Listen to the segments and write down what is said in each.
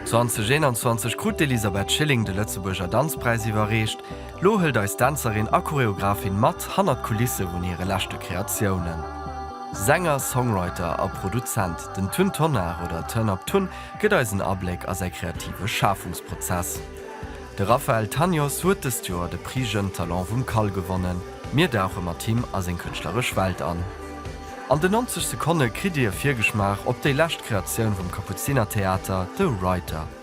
2021 krut d'Elisabeth Schilling de Lëtzebuerger Danzpräis iwwerreecht. Lo hëlt eis Dänzerin a Choreographin mat hannert d'Kulisse vun hire leschte Kreatiounen. Sänger, Songwriter a Produzent. Den Tun Tonnar oder Turn Up Tun gëtt eis en Abléck a säi kreative Schafungsprozess. De Raphaël Tanios huet dëst Joer de Prix Jeunes Talents vum CAL gewonnen. Mir dauche mat him a seng kënschtleresch Welt an. An den 90 Sekonne kritt Dir e Virgeschmaach op déi lescht Kreatioun vum Kapuzinertheater, The Writer.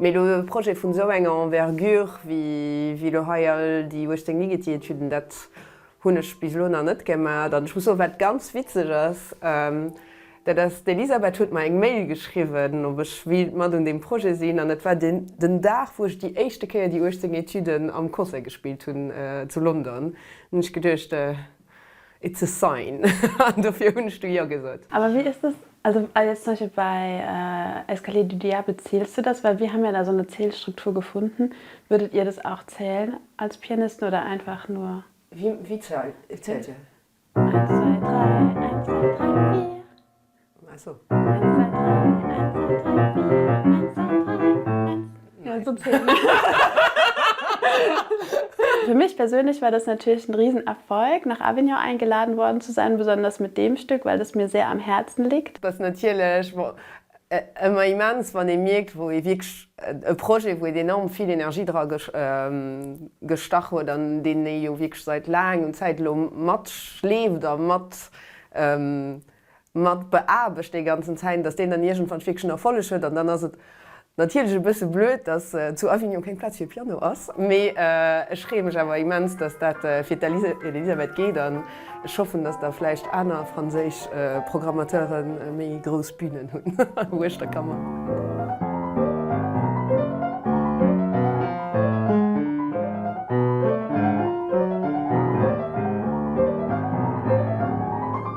Mee elo e Projet vun esou enger Envergure wéi elo hei all déi 18 Ligeti-Etüden, dat Hunn ech bis elo nach net gemat an ech muss soen wat ganz witzeg ass, dat ass d'Elisabeth huet mer eng Mail geschriwwen ob ech wéilt mat un deem Projet sinn an et war den Dag wou ech déi éischte Kéier déi 18 Etuden am Concert gespillt hunn zu London. Hunn ech geduecht it's a sign an dofir hunn ech du jo gesot. Awer wéi ass dës Also a jetzt zum Beispiel bei Escalier du Diable zählst du das? Weil wir haben ja da so eine Zählstruktur gefunden. Würdet ihr das auch zählen als Pianisten oder einfach nur? Wie wie zählt zählt ihr? Eins, zwei, drei, eins, zwei, drei, vier. Ach so. Eins, zwei, drei, eins, zwei, drei, vier, eins, zwei, drei, eins. Nein. So Für mich persönlich war das natürlich ein Riesenerfolg, nach Avignon eingeladen worden zu sein, besonders mit dem Stück, weil das mir sehr am Herzen liegt. Das natürlich emmer immens, wann ee mierkt, wou ee wierklech e Projet, wou een enorm vill Energie dra gestach huet an deen ee jo wierklech seit laangem Zäit elo matschleeft a mat mat beaarbecht dee ganzen Zäin, datt deen dann iergendwann wierklech en Erfolleg huet. An dann ass et natierlech e bësse blöd, datt zu Avignon keng Plaz fir Piano ass. Mee ech freeë mech awer immens, datt dat fir d'Elisabeth geet an ech hoffen, datt da vläicht aner franséisch Programmateure méi grouss Bünen hunn uecht der Kammer.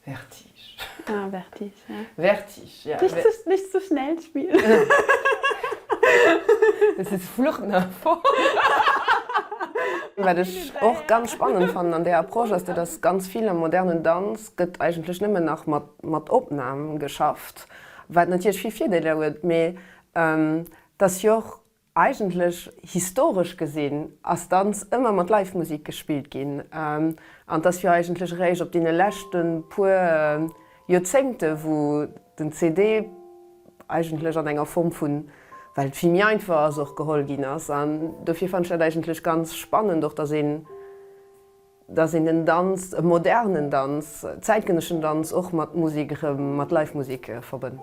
Vertige. Ah, Vertige, ja. Vertige, ja. Nicht zu, nicht zu schnell spielen. Das ist Flucht nach vorn. Wat ech och ganz spannend fannen an där Approche ass, dat ass, ganz vill am modernen Danz gëtt eigentlech nëmmen nach mat, mat Opnam geschafft, wat natierlech vill Virdeeler huet, mee dat jo och Eigentlech, historesch gesinn, ass Danz ëmmer mat Live-Musik gespillt ginn, an et ass jo eigentlech eréischt op deene leschte puer Joerzéngte wou den CD eigentlech an enger Form vun, well et vill méi einfach ass, och geholl ginn ass. An dofir fannen ech dat eigentlech ganz spannend och, dass een, dass een den Danz, e modernen Danz, zäitgenëschen Danz och mat Musik erëm, mat Live-Musik verbënnt.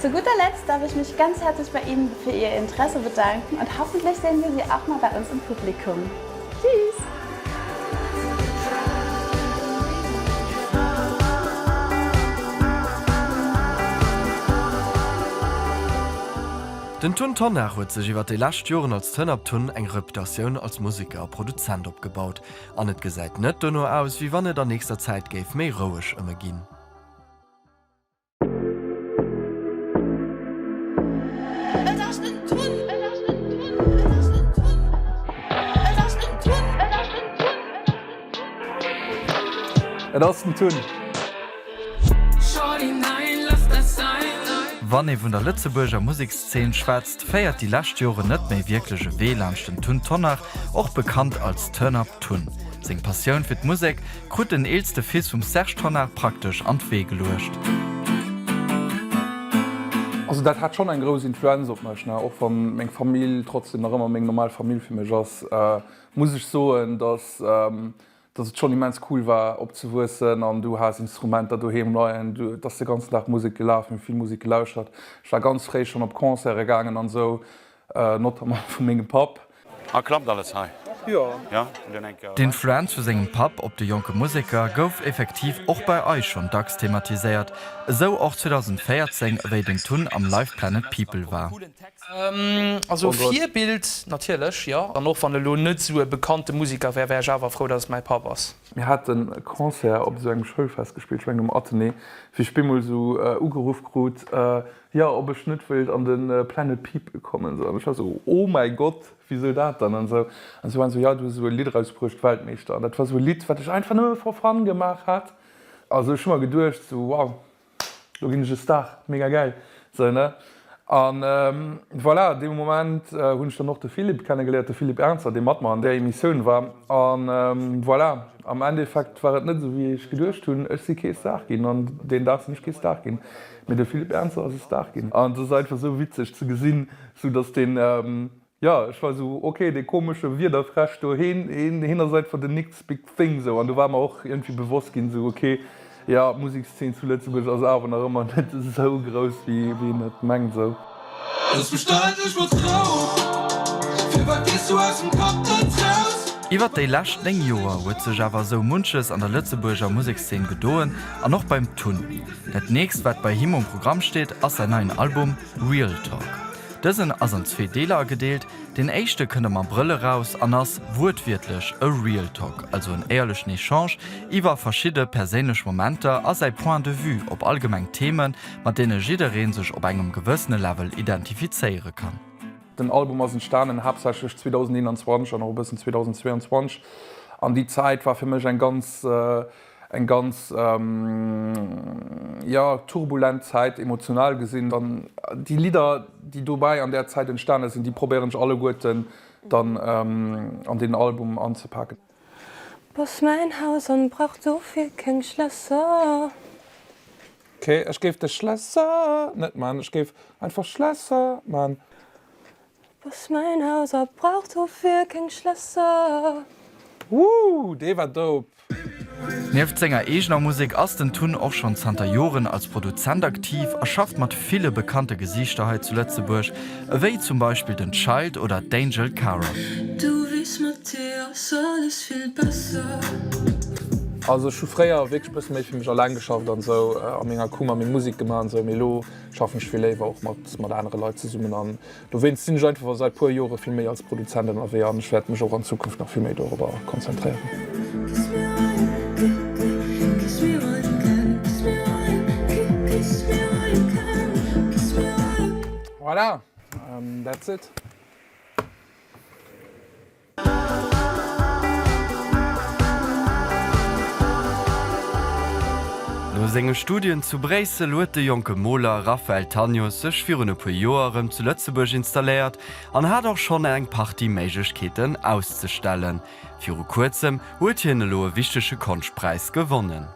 Zu guter Letzt darf ich mich ganz herzlich bei Ihnen für Ihr Interesse bedanken und hoffentlich sehen wir Sie auch mal bei uns im Publikum. Tschüss! Den Tun Tonnar huet sech iwwert déi lescht Joren als Tënner Tun eng Reputatioun als Museker a Produzent opgebaut an et gesäit net dono aus, wéi wann et an nächster Zäit géif méi roueg ëm e ginn. Wann ee vun der Lëtzebuerger Musekszeen schwätzt, féiert déi lescht Joren net méi wierklech e Wee laanscht den Tun Tonnar, och bekannt als Turnup Tun. Seng Passioun fir d'Musek krut den eelste Fils vum Serge Tonnar praktesch an d'Wee geluecht. Also dat hat schonn eng grouss Influenz op mech, ne. Och wann meng Famill trotzdem nach ëmmer meng normal Famill fir mech ass, muss ech soen, dass dass et schonn immens cool war opzewuessen an du has Instrumenter doheem leien, et ass de ganzen Dag Musek gelaf, mir hu vill Musek gelauschtert, ech war ganz fréi schonn op Concerte gaangen an esou. Notamment vu mengem Papp. A klappt alles hei? Jo. D'Influenz vu sengem Papp op de jonke Museker gouf effektiv och bei eis schonn dacks thematiséiert, esou och 2014, wéi den Tun am Live! Planet People war. Also Virbild natierlech, jo. An och wann elo net esou e bekannte Museker wär, wär ech awer frou, datt et mäi Papp ass. Mir haten e Concert op esou engem Schoulfest gespillt, ech mengen um Athenée, wéi ech bemol esou ugeruff krut, Jo, ob ech net wéilt an den Planet People kommen sou. An ech war sou, oh mäi Gott, wisou dat dann an sou. An si waren sou, jo du hues esou e Lidd erausbruecht, Weltmeeschter. An dat war sou e Lidd wat ech einfach nëmme for fun gemaach hat. A sou ech hu mer geduecht sou, wow, lo ginn ech e Star, mega gäil sou ne. An voilà, dee Moment hunn ech dann och de Philippe kennegeléiert, de Philippe Ernzer, dee mat mer an där Emissioun war. An voilà, am Endeffekt war et net esou wéi ech geduecht hunn. Ech si kee Star ginn an deen Dag sinn ech kee Star ginn. Mee de Philippe Ernzer ass e Star ginn. An et ass einfach sou witzeg ze gesinn, sou datt deen, jo, ech war sou, ok, dee komesche Wiederfräsch do, heen, heen ass einfach den next big thing sou. An do war mer och iergendwéi bewosst ginn, sou, ok, jo, d'Musekszeen zu Lëtzebuerg ass awer nach ëmmer net esou grouss, wéi een et mengt sou. Ech bestellen dech mat Trauer. Firwat gees du aus dem Kapp net raus? Iwwert déi lescht 9 Joer huet sech awer esou munches an der Lëtzebuerger Musekszeen gedoen an och beim Tun. Dat nächst wat bei him um Programm steet ass säin neien Album Real Talk. Dësen ass an zwee Deeler agedeelt, deen éischte kënnt am Abrëll eraus an ass wuertwiertlech e Real Talk, also en éierlechen Echange iwwer verschidde perséinlech Momenter a säi Point de Vue op allgemeng Themen mat deene jidderee sech op engem gewëssene Level identifizéiere kann. Den Album ass entstanen haaptsächlech 2021 an och e bëssen 2022 an déi Zäit war fir mech eng ganz, eng ganz, jo, turbulent Zäit emotional gesinn. An déi Lidder, déi dobäi an där Zäit entstane sinn, déi probéieren ech alleguerten dann an deen Album anzepaken. Boss mein Haus an brauch dofir keng Schlässer. K, Ech géif de Schlässer net man, ech géif einfach Schlässer man. Boss mein Haus a brauch dofir keng Schlässer. Wooh, dee war dope! Nieft senger eegener Musek ass den Tun och schonn zanter Joren als Produzent aktiv a schafft mat ville bekannte Gesiichter hei zu Lëtzebuerg, Ewéi zum Beispill den Child oder d'Angel Cara. Also ech hu fréier wierklech e bësse méi fir mech alleng geschafft an esou a menger Kummer meng Musek gemaach an esou, mee elo schaffen ech vill léiwer och mat anere Leit zesummen an dowéinst sinn ech einfach säit puer Jore vill méi als Produzent ënnerwee an ech wäert mech och an Zukunft nach vill méi dorobber konzentréieren. Voilà, an that's it. No senge Studien zu Bréissel huet de jonke Moler Raphaël Tanios sech virun e puer Joer erëm zu Lëtzebuerg installéiert an hat och schonn eng Partie Méiglechkeeten auszestellen. Viru kuerzem huet hien elo e wichtege Konschtpräis gewonnen.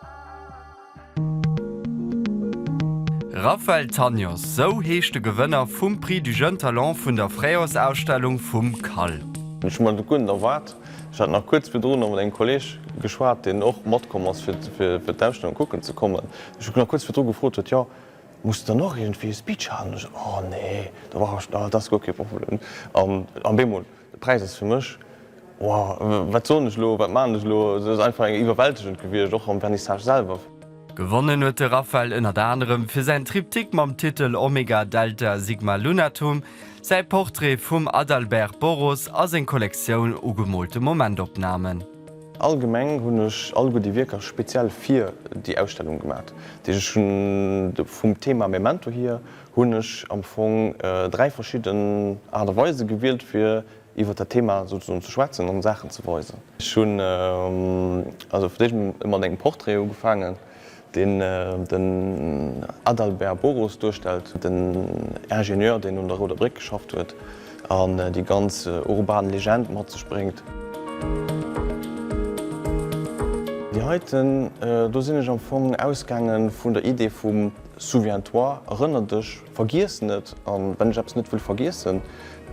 Raphael Tanios, sou heescht de Gewënner vum Prix du jeune talent vun der Fréijoersausstellung vum CAL. Ech hu mer dat guer net erwaart. Ech hat nach kuerz virdru nach mat engem Kolleeg geschwat, deen och matkomm ass, fir d'Ausstellung kucken ze kommen. Ech hu nach kuerz virdru gefrot huet, Jo, muss dann och iergendwéi e Speech halen? Ech sot, Oh nee, do war ech, dat ass guer kee Problem. An bemol, De Präis ass fir mech, wow, wat soen ech elo, wat maachen ech elo, et ass einfach eng iwwerwältegend gewiescht, och am Vernissage selwer. Gewonnen huet de Rafael ënnert anerem fir säin Triptyque mam Titel Omega Delta Sigma Lunatum, säi Portrait vum Adalbert Boros a seng Kollektioun u gemoolte Momentopnamen. Allgemeng hunn ech alleguer déi Wierker speziell fir déi Ausstellung gemat, déi ech hunn, vum Thema Memento hier, hunn ech am Fong dräi verschidden Aart a Weise gewielt, fir iwwer dat Thema souzesoen ze schwätzen an Saachen ze weisen. Ech hunn also fir d'éischt emol mat engem Portrait ugefaangen, deen den Adalbert Boros duerstellt, den Ingenieur, deen un der Rouder Bréck geschafft huet an déi ganz urban Legend mat sech bréngt. Déi heiten do sinn ech am Fong ausgaange vun der Idee vum Souviens-toi, Erënner dech, Vergiess net, a wann ech eppes net wëll vergiessen,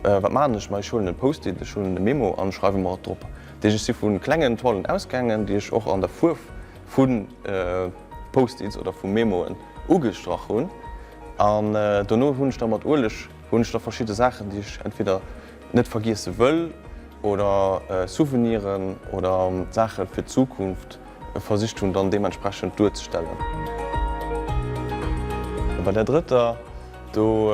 wat maachen ech? Ma ech huelen e Post-it, ech huelen e Memo an schreiwe mer et drop. Deeg, ech si vu klengen Toilen ausgaangen, déi ech och an der Fuerf vu Post-its oder vu Memoen ugestrach hunn. An dono hunn ech da mat Ueleg hunn ech da verschidde Saachen, déi ech entweder net vergiesse wëll oder Souveniren oder Saache fir d'Zukunft, versicht hunn dann deementsprechend duerzestellen. Bei der drëtter, do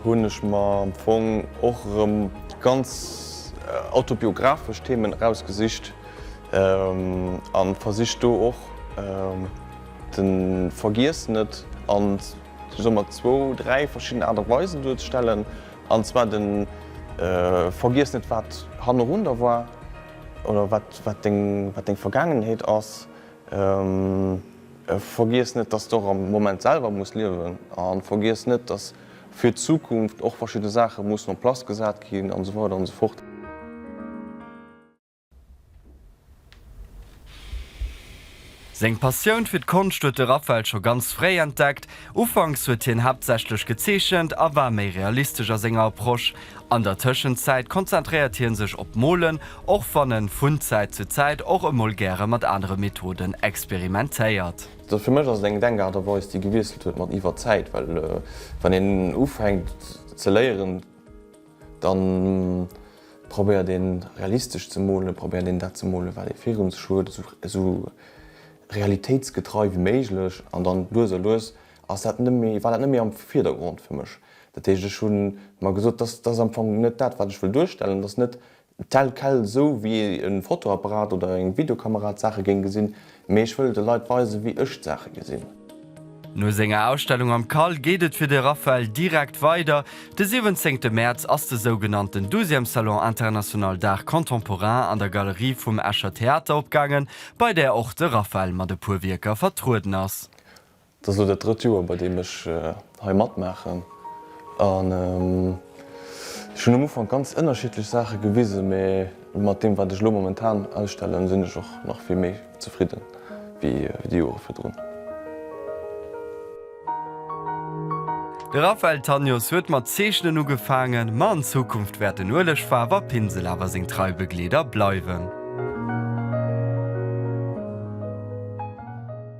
hunn ech mer am Fong och erëm ganz autobiographesch Themen erausgesicht a versicht do och de Vergiess net an somat zwou, dräi verschidden Aart a Weisen duerzestellen, an zwar de Vergiess net wat hannerun der war, Oder wat deng Vergaangenheet ass. Vergiess net, dass de och am Moment selwer muss liewen. A vergiess net, dass fir d'Zukunft och verschidde Saache mussen en place gesat ginn an esou weider an esou fort. Seng Passioun fir d'Konscht huet de Raphael scho ganz fréi entdeckt. Ufanks huet hien haaptsächlech gezeechent a war méi realistesch a senger Approche. An der Tëschenzäit konzentréiert hie sech op d'Molen, och wann en vun Zäit zu Zäit och emol gäre mat anere Methoden experimentéiert. Fir mech ass et eng Denkaart a Weis, déi gewiesselt huet mat iwwer d'Zäit, well wann een ufänkt ze léieren, Dann probéiert een realistesch ze molen, probéiert een dat ze molen wat ee fir eis huet, esou realitéitsgetrei wéi méiglech. An dann lues a lues ass dat net méi, war dat net méi am Virdergrond fir mech. Dat heescht ech hunn mer gesot, dass dass am Fong net dat wat ech wëll duerstellen, dass net Tel quel, esou wéi ee e Fotoapparat oder eng Videokamera d'Saache géing gesinn, mee ech wëll de Leit weisen, wéi ech d'Saache gesinn. No senger Ausstellung am Cal geet et fir de Raphael direkt weider. De 17 Mäerz ass de sougenannten Douzième Salon International d'Art Contemporain an der Galerie vum Escher Theater opgaangen, bei där och de Raphael mat e puer Wierker vertrueden ass. Et ass elo dat drëtt Joer, bei deem ech hei matmaachen. An ech hunn am Ufank ganz ënnerschiddlech Saache gewisen, mee mat deem, wat ech elo momentan ausstellen, sinn ech och nach vill méi zefridden, wéi déi Jore virdrun. De Raphaël Tanios huet mat Zeechnen ugefaangen, ma an Zukunft wäert den Ueleg, Faarf a Pinsel awer seng trei Begleeder bleiwen.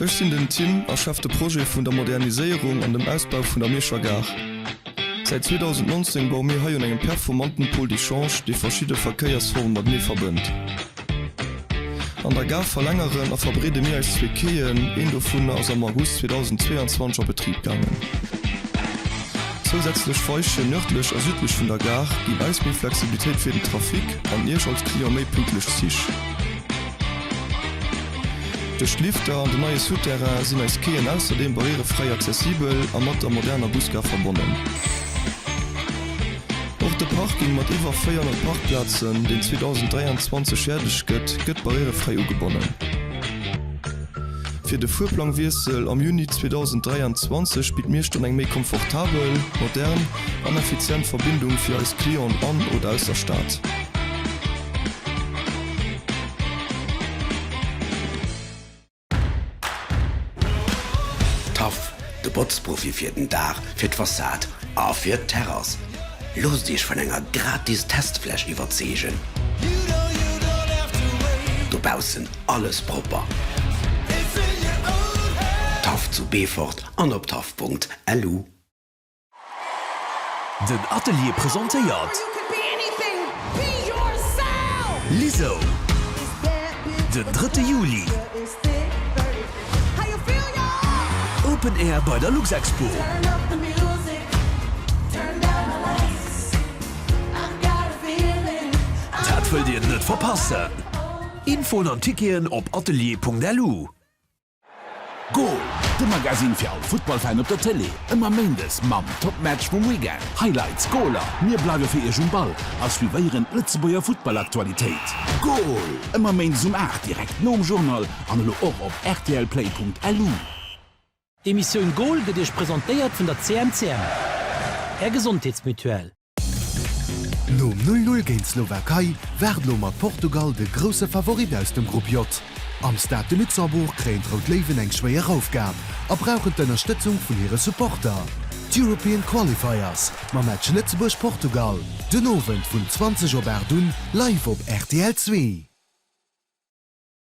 Ech sinn den Tim a schäff de Projet vun der Moderniséierung an dem Ausbau vun der Mierscher Gare. Säit 2019 baue mir hei un engem performanten Pôle d'échange, dee verschidde Verkéiersforme matenee verbënnt. An der Gare verlängeren a verbreede mir eis zwee Quaien, een dovun ass am August 2022 a Betrib gaangen. Zousätzlech Weiche nërdlech a südlech vun der Gare ginn eis méi Flexibilitéit fir den Trafic an Iech als Client méi pünktlech Zich. Duerch d'Lifter an den neie Souterrain sinn eis Quaien ausserdeem barrièrefräi accessibel a mat der moderner Busgare verbonnen. Och de Parking mat iwwer 400 Parkplazen, deen 2023 fäerdeg gëtt, gëtt barrièrefräi ugebonnen. Fir de Fuerplangwiessel am Juni 2023 bitt Miechten eng méi komfortabel, modern an effizient Verbindung fir eis Clienten an oder aus der Stad. Taff, de Botzprofi fir den Daach, fir d'Fassad a fir d'Terrass. Loosst Iech vun enger gratis Testfläch iwwerzeegen. Dobaussen alles propper. Taff zu Beefort an op taff.lu. Den Atelier presentéiert Lizzo den drëtte Juli Open Air bei der Luxexpo. Dat wëllt Dir net verpassen! Infoen an Ticketen op atelier.lu. Goal! De Magasinn fir all Futtballfan op der Tëlee. Ëmmer Méindes mam Top Match vum Weekend, Highlights, Goaler. Mir bleiwe fir Iech um Ball a suivéieren d'Lëtzebuerger Futtballaktualitéit. Goal! Ëmmer Méindes um 8, direkt nom Journal an elo och op rtlplay.lu. D'Emissioun Goal gëtt Iech presentéiert vun der CMCM, Är Gesondheetsmutuelle. Nom 'Null Null' géint d'Slowakei waart elo mat Portugal de grousse Favorit aus dem Grupp J. Am Stade de Luxembourg kréien d'Rout Léiwen eng schwéier Aufgab a brauchen d'Ënnerstëtzung vun hire Supporter. D'European Qualifiers mam Match Lëtzebuerg, Portugal den Owend vun 20 op 8 un live op rtl Zwee.